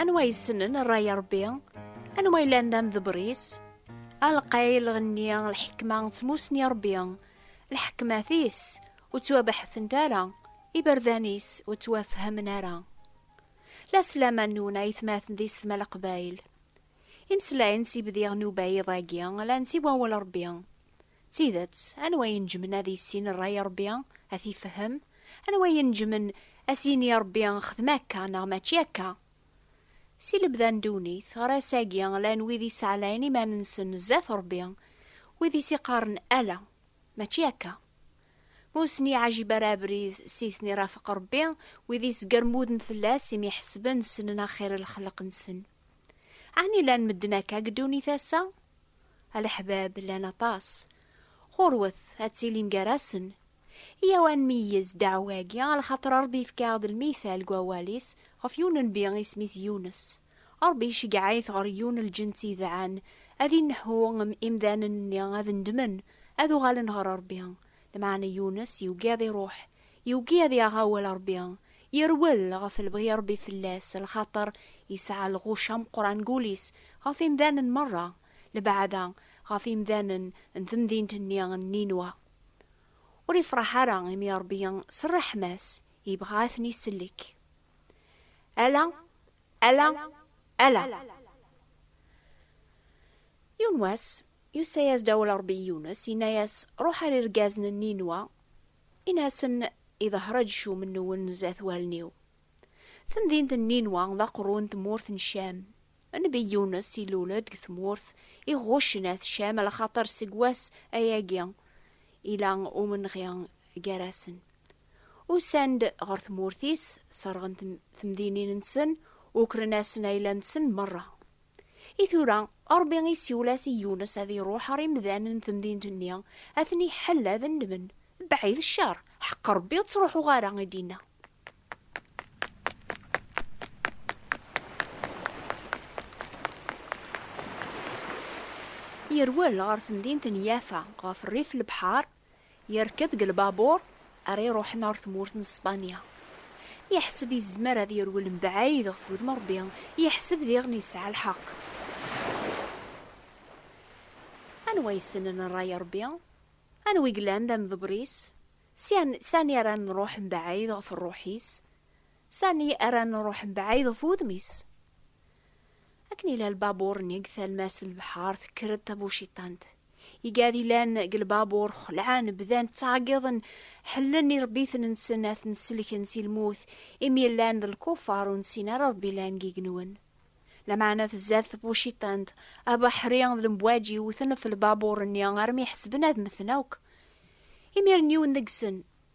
Anwa yessnen rray Rebbi? Anwa yellan d amdebris? Alqay lɣenni lḥekma ttmusni Rebbi, lḥekmat-is ur ttwabeḥtent ara, iberdan-is ur ttwafhamen ara. La slaman nwen aytmaten di Setma Leqbayel. Imeslayen s ibdiɣ n ubayid-agi llan si wawal Rebbi. D tidet, anwa i ineǧǧmen ad issin rray i Ṛebbi, ad t-ifehhem? Anwa i ineǧǧmen ad s-yini i Ṛebbi, Xdem akka neɣ mačči akka? Si lebda n ddunit ɣer ass-agi llan wid i ssaɛlayen iman-nsen zdat Ṛebbi, wid i s-iqqaren ala, mačči akka. Ma ur sen-iɛajib ara abrid s i ten-irafeq Ṛebbi, wid i sgermuden fell-as imi ḥesben ssnen axir n lexleq-nsen. Ɛni llan medden akka deg ddunit ass-a? A leḥbab, llan aṭas. Ɣurwet, ad tilim gar-asen. Iyyaw ad nmeyyez ddeɛwa-agi, lxaṭer Ṛebbi yefka-aɣ-d lmital deg Wawal-is ɣef yiwen n nnbi isem-is Yunes. Ṛebbi iceggeɛ-it ɣer yiwen n lǧenn-t yedɛan, ad inneḥu imdanen-nni ad nnedmen, ad uɣalen ɣer Ṛebbi. Lmeɛna Yunes yugad iṛuḥ, Yugi ad yaɣ awal Ṛebbi, yerwel ɣef lebɣi n Ṛebbi fell-as, lxaṭer yesɛa lɣuc ameqqran deg wul-is ɣef imdanen meṛṛa, lebɛada ɣef imdanen n temdint-nni n Ninwa. Ur ifṛeḥ ara imi Ṛebbi s ṛṛeḥma-s yebɣa ad ten-isellek. Ala, ala, ala! Yiwen wass, yusa-yas-d awal Ṛebbi i Yunes, yenna-yas, Ṛuḥ ar irgazen n Ninwa, Ini-asen i Dehraǧ cumenniwen zdat wallen-iw. Temdint n Ninwa d aqerru n tmurt n Cam. Nnbi Yunes ilul-d deg tmurt iɣuccen at Cam lxaṭer seg wass ayagi ila umenɣi gar-asen. Usan-d ɣer tmurt-is, serɣen temdinin-nsen, ukren-asen ayla-nsen merra. I tura, Ṛebbi isiwel-as i Yunes ad iṛuḥ ɣer imdanen n temdint-nni, ad ten-iḥell ad nnmen, Beɛɛed cceṛ, ḥeqq Ṛebbi ur ţṛuḥuɣ ara, i d-inna. Yerwel ɣer temdint n Yafa, ɣef rrif n lebḥeṛ, Yerkeb deg lbabur ara iruḥen ɣer tmurt n Spanya. Yeḥseb yezmer ad yerwel mebɛid ɣef wudem n Rebbi, yeḥseb diɣen yesɛa lḥeqq. Anwa yessnen rray n Rebbi? Anwa i yellan d amḍebber-is? Sani ara nruḥ mebɛid ɣef rruḥ-is? Sani ara nruḥ mebɛid ɣef wudem-is? Akken yella lbabuṛ-nni deg talmast n lebḥeṛ, tekker-d tabuciṭant. Igad yellan deg lbabuṛ xelɛen, bdan ttɛeggiḍen, ḥellen iṛebbiten-nsen ad ten-sellken si lmut, imi llan d lkufaṛ ur nessin ara Ṛebbi llan deg yigenwen. Lameɛna tzad tbuciṭant, abeḥri d lembwaǧi wwten ɣef lbabuṛ-nni armi ḥesben ad mmten akk. Imiren yiwen deg-sen.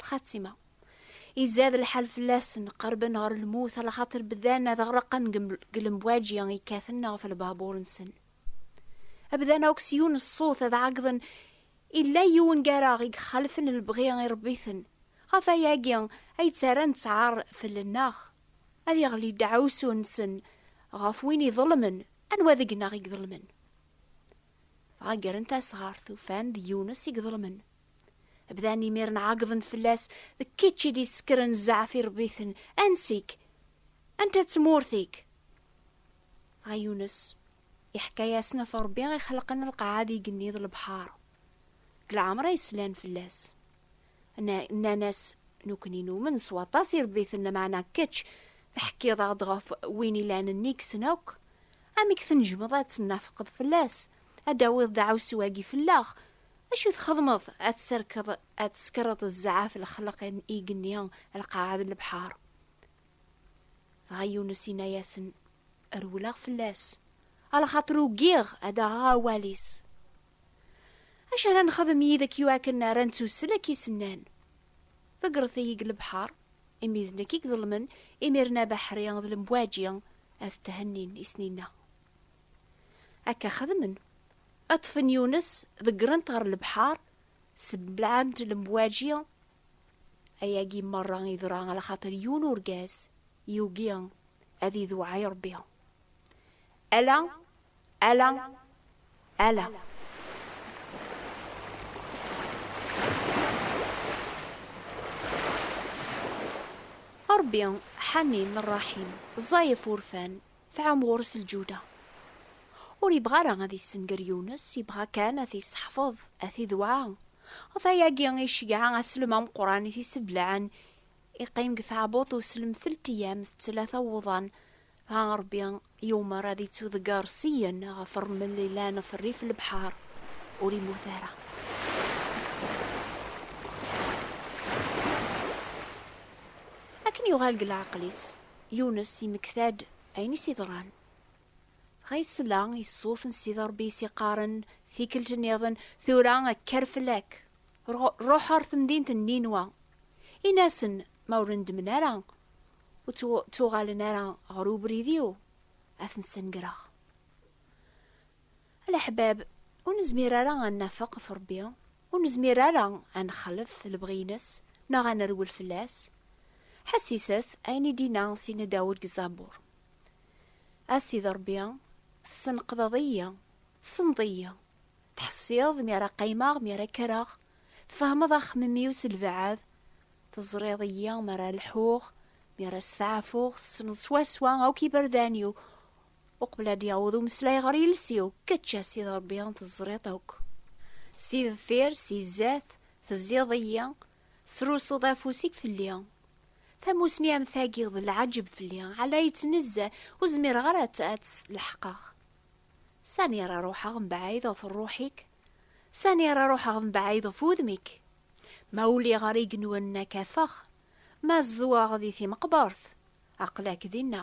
lxatima izad lḥal fell-asen qerben ɣer lmut ala xaṭer bdan ad ɣraqen deg lemwaǧi yekkaten ɣef lbabuṛ-nsen abdan akk s yiwen ṣṣut ad ɛeggḍen illa yiwen gar-aɣ i yexalfen lebɣi iṛebbiten ɣef ayagi ay ttarran ttɛaṛ fell-nneɣ ad yeɣli ddaɛwessu-nsen ɣef win iḍelmen anwa deg-neɣ i iḍelmen dɣa ggren tasɣart ufan d Yunes i iḍelmen Bdan imiren ɛeggḍen fell-as, d kečč i d-isekkren zzeɛf i rebiten, ansi-k? Anta tmurt-ik? Dɣa Yunes iḥka-yasen ɣef Rebbi i xelqen lqaɛa d igenni d lebḥar, deg lɛemra yeslan fell-as. Nnan-as, Nukni numen s waṭas i rebiten, lameɛna kečč teḥkiḍ-aɣ-d ɣef win ilan nnig-sen akk, amek tnejmeḍ ad tennafqeḍ fell-as, ad d-tawiḍ deɛɛusu-agi fell-aɣ? Acu txedmeḍ ad tserkeḍ, ad tsekreḍ zɛaf lexleq n igenni, lqaɛa d lebḥar? Dɣa Yunes inna-yasen, Rewleɣ fell-as, alxaṭer ugiɣ ad aɣeɣ awal-is. Acu ara nexdem yid-k iwakken ara nettussel akka i s-nnan? Ḍeggret-iyi deg lebḥar, imi d nekk i iḍelmen, imiren abeḥri d lemwaǧi ad thennin i s-ninna. Akka xedmen. Ṭṭfen Yunes, ḍeggren-t ɣer lebḥer, seblaɛen-t lemwaǧi. Ayagi merra yeḍra ala xaṭer yiwen urgaz yugi ad idewɛa i Ṛebbi. Ala, ala, ala. A Ṛebbi, ḥanin, ṛṛaḥim, ẓẓay ɣef urfan, Tɛum ɣur-s lǧuda. Ur yebɣi ara ad yessenger Yunes, yebɣa kan ad t-yesseḥfeḍ, ad t-idewɛa. Ɣef wayagi i iceggeɛ aslem ameqqran i t-iseblaɛen, iqqim deg tɛebbuḍt uslem telt eyyam d tlata wuḍan, dɣa Rebbi yumer ad ittuḍegger syen ɣef rrmel yellan ɣef rrif n lebḥer, ur immut ara. Akken yuɣal deg leɛqel-is, Yunes yemmekta-d ayen i s-iḍran. Dɣa yesla i ṣṣut n Sidi Ṛebbi i s-iqqaren tikkelt nniḍen, Tura kker fell-ak, ṛuḥ ɣer temdint n Ninwa, in-asen ma ur neddmen ara, ur ttuɣalen ara ɣer ubrid-iw, ad ten-snegreɣ. A leḥbab, ur nezmir ara ad nafeq ɣef Ṛebbi, ur nezmir ara ad nexlef lebɣi-ines neɣ ad nerwel fell-as. Ḥesset ayen i d-inna Sina Dawed deg Zabur, A Sidi Ṛebbi, tesneqdeḍ-iyi, tessneḍ-iyi, teḥṣiḍ mi ara qqimeɣ, mi ara kkreɣ, tfehmeḍ axemmem-iw s lbeɛd, teẓriḍ-iyi mi ara lḥuɣ, mi ara steɛfuɣ, tessneḍ swaswa akk iberdan-iw, Uqbel ad d-yaweḍ umeslay ɣer yiles-iw, kečč a Sidi Ṛebbi teẓriḍ akk. Si deffir, si zdat, teẓẓiḍ-iyi, tesrusuḍ afus-ik fell-i. Tamussni am tagi d lɛaǧeb fell-i, ɛla yettnezza, ur zmireɣ ara ad tt-leḥqeɣ. Sani ara ruḥeɣ mebɛid ɣef ṛṛuḥ-ik? Sani ara ruḥeɣ mebɛid ɣef wudem-ik? Ma uliɣ ɣer igenwan n Akafex, ma zedɣeɣ di timeqbert, aql-ak dinna.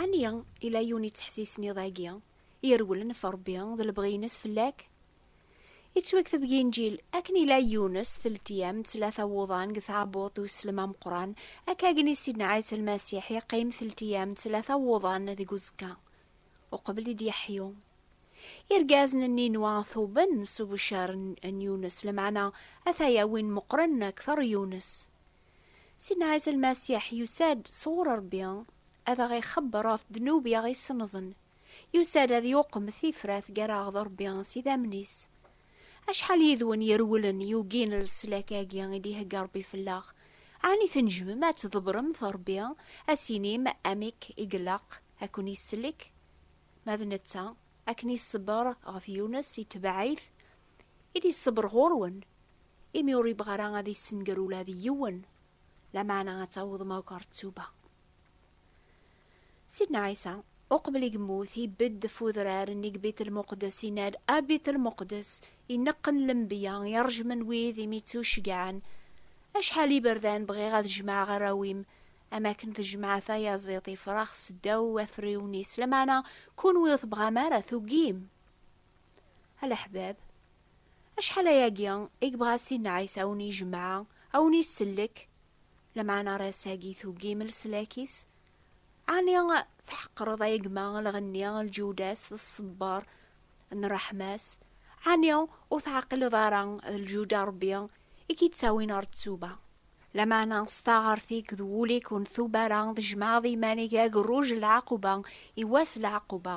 Ɛni yella yiwen yettḥessisen iḍ-agi, irewlen ɣef Ṛebbi d lebɣi-ines fell-ak? Yettwakteb deg Inǧil, akken yella Yunes teltiyam d tlata wuḍan deg tɛebbuḍt n uslem ameqqran, akka gen i Sidna Ɛisa Lmasiḥ yeqqim teltiyam d tlata wuḍan deg uẓekka, uqbel i d-yeḥyu. Irgazen n Ninuwa tuben s ubecer n Yunes, lameɛna ata-ya win meqqren akteṛ Yunes. Sidna Ɛisa Lmasiḥ yusa-d sɣur Ṛebbi ad aɣ-ixebber ɣef ddnub i aɣ-isennḍen, yusa-d ad yuqem tifrat gar-aɣ d Ṛebbi s idammen-is. Acḥal yid-wen irewlen yugin leslak-agi i d-ihegga Ṛebbi fell-aɣ? Ɛni tnejjmem ad tḍebrem ɣef Ṛebbi, ad s-inim amek i ilaq ad ken-isellek? Ma d netta, akken iṣebber ɣef Yunes, itebɛ-it, I d-iṣebber ɣur-wen, imi ur yebɣi ara ad yessenger ula d yiwen, lameɛna ad tawḍem akk ɣer ttuba. Sidna Ɛisa, uqbel i yemmut, ibedd ɣef udrar nni deg Bit-el-Muqeddes, yenna-d, A Bit-el-Muqeddes, ineqqen lembiya, iṛejmen wid i m-ittuceggɛen, acḥal n yiberdan bɣiɣ ad jemɛeɣ arraw-im, am wakken tjemɛeḍ tayaziḍt ifrax seddaw wafriwen-is, lameɛna kunwi ur tebɣam ara, tugim! Alaḥbab, acḥal ayagi i yebɣa Sidna Ɛisa a wen-ijemɛa, a wen-isellek, lameɛna ar ass-agi tugim leslak-is? Ɛni tḥeqqreḍ ay gma lɣenni, lǧuda-s d ṣṣebber n ṛṛeḥma-s? Ɛni ur teɛqileḍ ara d lǧuda Ṛebbi i k-ittawin ɣer ttuba? Lameɛna s taɣert-ik d wul-ik ur ntuba ara, tjemɛeḍ iman-ik d agerruj n lɛaquba i wass n lɛaquba,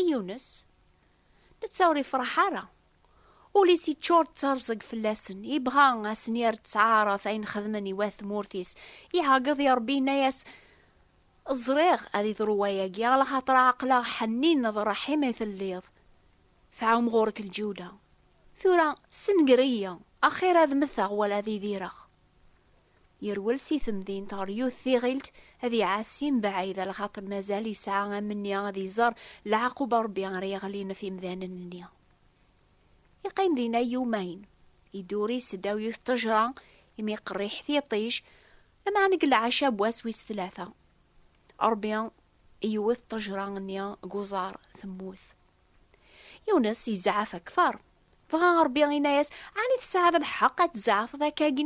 i Yunes, netta ur ifraḥ ara. Ul-is iččur d tarẓeg fell-asen, ibɣa a sen-yerr ţɛaṛet ayen xedmen i wat tmurt-is. Iɛeggeḍ i Ṛebbi inna-yas, Ẓriɣ ad iḍru wayagi, alaxaṭer ɛeqleɣ ḥennin d ṛṛeḥim i telliḍ, tɛum ɣur-k lǧuda. Tura, ssenger-iyi, axir ad mteɣ wala ad idireɣ. Yerwel si temdint ɣer yiwet tiɣilt ad iɛassi mbaɛid a lxaṭer mazal yesɛa amenni ad iẓer leɛqub n Rebbi ara yeɣlin ɣef imdanen-nni. Yeqqim dinna yumayen, iduri seddaw yiwet n tejra imi qerriḥ tiṭij, lameɛna deg lɛecab wass wis tlata, Rebbi iwet ṭejra-nni deg uẓar, temmut. Yunes yezɛef akteṛ. Dɣa Ṛebbi inna-yas, Ɛni tesɛiḍ lḥeqq ad tzeɛfeḍ akkagi?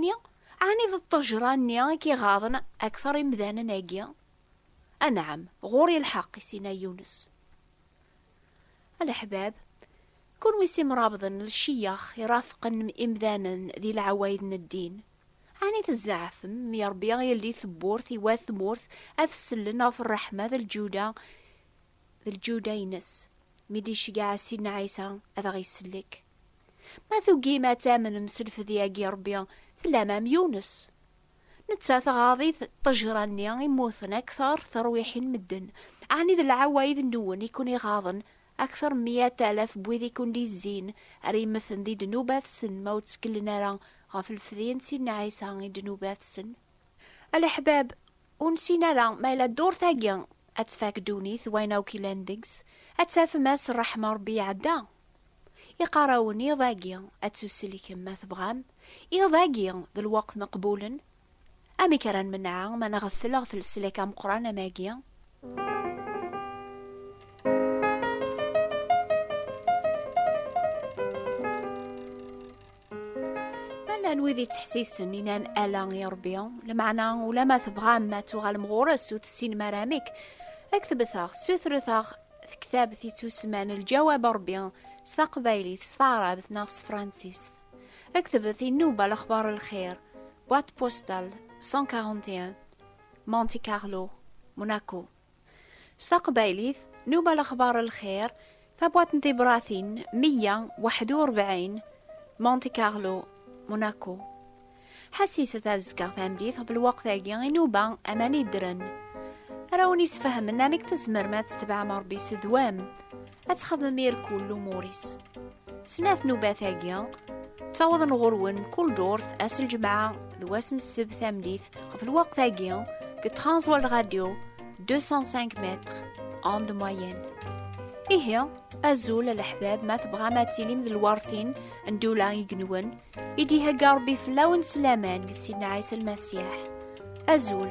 Ɛni d ṭṭejṛa-nni i k-iɣaḍen akteṛ imdanen-agi? Anɛam, ɣur-i lḥeqq, i s-inna Yunes. A leḥbab, kunwi s imṛabḍen, lceyyex, iṛafqen imdanen di leɛwayed n ddin, ɛni tzeɛfem mi Ṛebbi ielli tewwurt i wat tmurt ad sellen ɣef ṛṛeḥma d lǧuda d lǧuda-ines, mi d-iceggeɛ Sidna Ɛisa ad aɣ-isellek. Ma tugim ad tamnem s lfed-agi n Ṛebbi, tellam am Yunes. Netta tɣaḍ-it ṭṭejra-nni i mmuten akteṛ terwiḥin medden, ɛni d lɛewayed-nwen i ken-iɣaḍen akteṛ n miyat alaf n wid i ken-d-izzin ar immeten di ddnubat-sen ma ur ttkellen ara ɣef lfed-i n Sidna Ɛisa i ddnubat-sen? A leḥbab, Ur nessin ara ma yella ddurt-agi ad tfak ddunit wayen akk yellan deg-s, ad tafem ass n ṛṛeḥma n Ṛebbi iɛedda. Iqqar-awen iḍ-agi ad tuselkem ma tebɣam, iḍ-agi d lweqt n qbulen. Amek ara nmenɛa ma nɣeffel ɣef leslak ameqqran am agi? Llan wid yettḥessisen inan ala i Ṛebbi, lameɛna ulamma tebɣam ad tuɣalem ɣur-s ur tessinem ara amek, ad k-tebteɣ, ssutret-aɣ tektabt yettusemman Lǧawab n Ṛebbi s taqbaylit, s taɛrabt neɣ s tefransist. Ad k-tebet inuba lexbar n lxir, boîte postale 141, Monte Carlo, Monaco. S taqbaylit, Nuba Lexbar Lxir, tabwaṭ n tibratin 141, Monte Carlo, Monaco. Ḥassiset ad zkeɣ tamdit ɣef lweqt-agi i Nuba aman yeddren. Ara wen-isfehmen amek tzemrem ad tetbeɛem Rebbi s ddwam. ad txedmem irkul lumuris. Snat nubat-agi, ttawḍen ɣur-wen kul durt ass ljemɛa d wass n sseb tamdit ɣef lweqt-agi deg Transworld Radio 205 mètres en de moyenne. Ihi, azul a leḥbab ma tebɣam ad tilim d lwartin n dula igenwen i d-ihegga Rebbi fell-awen s laman deg Sidna Ɛisa Lmasiḥ. Azul!